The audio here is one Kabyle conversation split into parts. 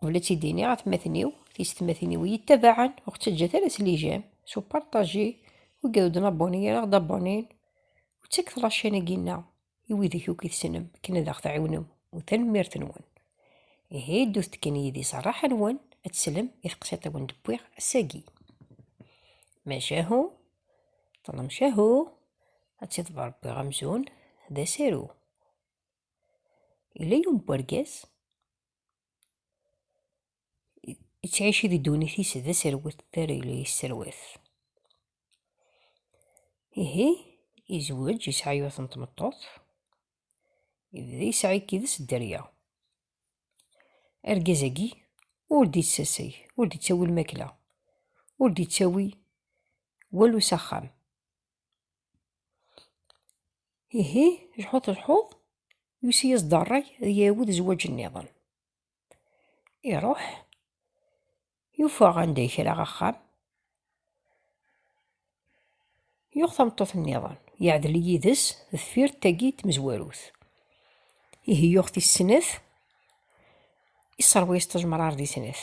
Qbel ad tt-id-iniɣ atmaten-iw, tisetmatin-iw iyi-ttabaɛen, ur ɣ-ttaǧǧat ara s lijam, s uparṭaji, wi gad ur d-naboni ara ɣ-d-abonin, u ttaket laččan-agi-nneɣ i widak akk i tessnem akken ad ɣ-tɛiwnem, u tanemmirt-nwen. Ihi ddut-d kan yid-i s rraḥa-nwen ad teslem i teqsiṭ i wen-d-wwiɣ ass-agi. Macahu, ṭṭlem cahu, ad tt-iḍber Rebbi amzun d asaru. Yella yiwen n wergaz yettɛici di ddunit-is d aserwet targla yesserwat ihi yezweǧ yesɛa yiwet n tmeṭṭut yebda yesɛa yid-s dderya argaz-agi ur d-yettaseg ur d-yettawi lmakla ur d-yettawi walu s axxam Ihi, lḥut lḥuḍ, yusi-yas-d ṛṛay ad yawed zzwaǧ nniḍen. Iṛuḥ, yufa anda yekra axxam, yuɣ tameṭṭut nniḍen, yeɛdel yid-s deffir tagi n tmezwarut. Ihi yuɣ tis snat, isseṛwa-yas ṭejmeṛṛaṛ di snat.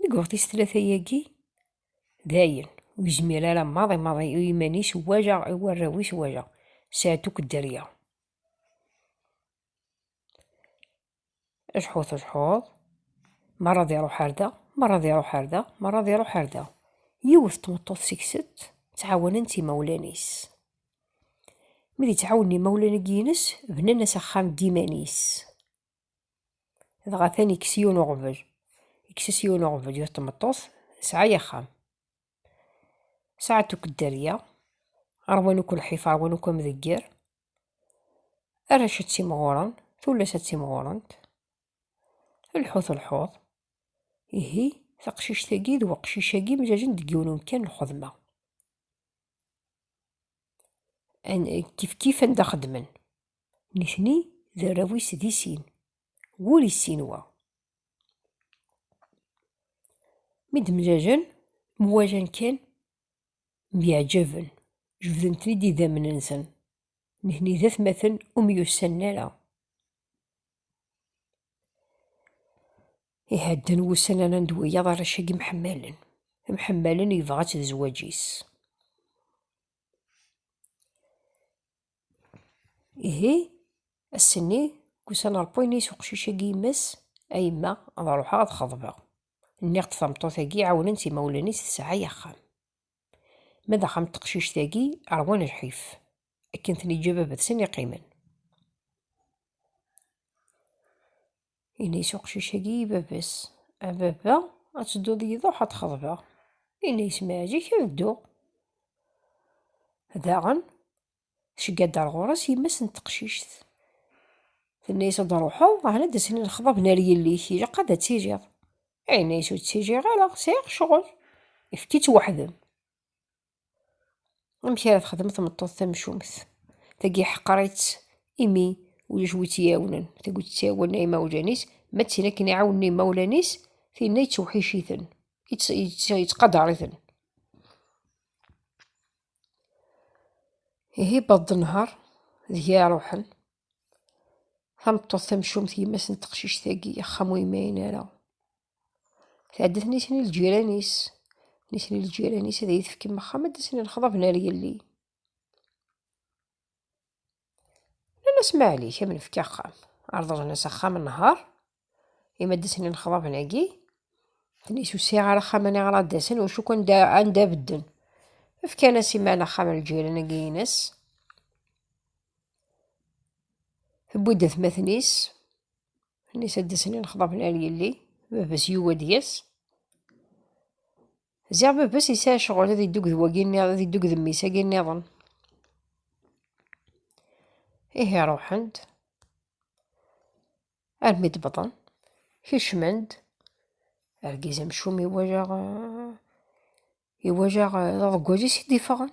Deg weɣtis tlata-agi, dayen, ur yezmir ara maḍi maḍi i yiman-is, wala i warraw-is, wala sɛed akk dderya. Ajeḥḥut ajeḥḥuḍ, merra ad iruḥ ar da, merra ad iruḥ ar da, merra ad iruḥ ar da. Yiwet tmeṭṭut seg-set, ttɛawanen-tt imawlan-is. Mi d-ittɛawanen imawlan-agi-ines, bnan-as axxam d iman-is. dɣa atan ikkes yiwen uɣbel ikkes-as yiwen uɣbel yut tmeṭṭut sɛa yaxxam saɛet ukeddarya arwan uku lḥif arwan uku amdegger arrac ad timɣuren tullas ad timɣurent lḥut lḥuḍ ihi taqcict-agi d weqcic-agi mjajen deg yiwen umkan lxedma kifkif anda xeddmen. Nitni d arraw-is di sin. Wul issin wa. Mi d-mlalen, mwalan kan, myeɛjaben, jebden-ten-id idammen-nsen. Nitni d atmaten ur myussanen ara. Ihadden wussan ara ned wiyaḍ arrac-agi mḥemmalen. Mḥemmalen yebɣa-tt d zzwaǧ-is. Ihi, ass-nni, kusan ɣer Poynais uqcic-agi yemma-s, A yemma, ad ruḥeɣ ad xeḍbeɣ. Nniɣ-d tameṭṭut-agi ɛawnen-tt imawlan-is tesɛa axxam. Ma d axxam n teqcict-agi, rwan lḥif. Akken ten-iǧǧa baba-tsen i qqimen. Ini-as uqcic-agi i baba-s. A baba, ad tedduḍ yiḍuḥ ad t-xeḍbeɣ. Ini-as ma yeɛǧik ad dduɣ. Daɣen, tcegga-d ar ɣur-s yemma-s n teqcict. Tenna-as ad d-ruḥeḍ, ɛni ad d-asen lexḍaben ar yelli-k, ilaq ad d-tiliḍ. Ini-as ur d-tiliɣ ara, sɛiɣ ccɣel. Efk-itt weḥd-m. amek ara texdem tmeṭṭut tamcumt tagi ḥqer-itt imi ulac wi tt-iɛawnen tagi tt-iɛawen imawlan-is ma d tin akken iɛawnen imawlan-is tinna yettewḥic-iten yettqadar-iten ihi baḍ nher deg iɛruḥen tameṭṭut tamcumt yemma-s n teqcict-agi axxam ur yemɛin ara Tɛedda tnisni lǧiran-is. Nisni lǧiran-is ad iyi-tefkem axxam ad d-asen lexḍab n ar yelli. Nnan-as maɛlik, ad m-nefk axxam. Rḍlen-as axxam nnehar, imi ad d-asen lexḍaben-agi. Tnis ur sɛiɣ ara axxam aniɣer ad d-asen, wacu kan anda bedden. Fkan-as iman axxam lǧiran-agi-ines. Tewwi-d atmaten-is. Nisa d-snin xḍaben ar yelli, baba-s yuwi ad d-yas. Ziɣ baba-s yesɛa ccɣel ad iddug d wagi nniḍen, ad iddug d mmi-s agi nniḍen. Ihi ruḥen-d, armi d-wwḍen, kecmen-d, argaz amcum iwajaɣ, iwajaɣ d aḍeggwaz-is i d-iffɣen.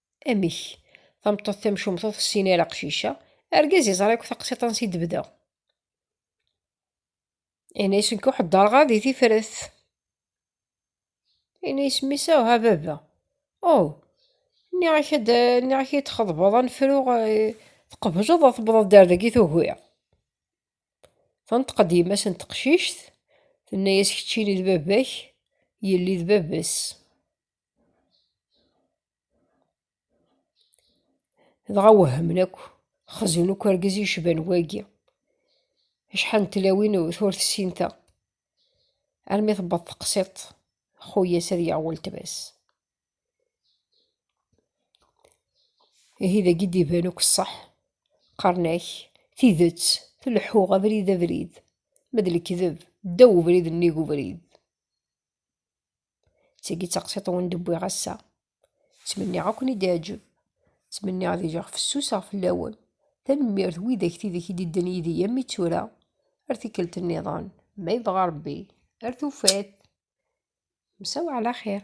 Amek? Tameṭṭut tamcumt ur tessin ara aqcic-a. Argaz yeẓra akk taqsiṭ ansi d-tebda. Yenna-yas nekk ur ḥeddreɣ ara di tifrat. Yenna-yas mmi-s aw ha baba. Oh, nniɣ-ak ad nniɣ-ak ad txeḍbeḍ ad nefruɣ eh, tqebleḍ ad tewwḍeḍ-d ar dagi tugiḍ. Tenṭeq-d yemma-s n teqcict, tenna-yas keččini d baba-k, yelli d baba-s. dɣa wehmen akk xzen akk argaz yecban wagi acḥal n tlawin ur tessinta armi tewweḍ teqsiṭ xuyas ad yaɣ weltma-s ihi dagi d-iban akk ṣṣeḥ qqaren-ak tidet tleḥḥuɣ abrid abrid ma d lekdeb ddaw ubrid nnig ubrid d tagi taqsiṭ wen d-wwiɣ ass-a. Ttmenniɣ ad ken-id-iɛǧeb. Ttmenniɣ ad iliɣ fessuseɣ fell-awen. Tanemmirt widak tidek i d-idden yid-i yammi d tura. Ar tikkelt nniḍen, ma yebɣa Rebbi, ar tufat! Msaw ɛla xir.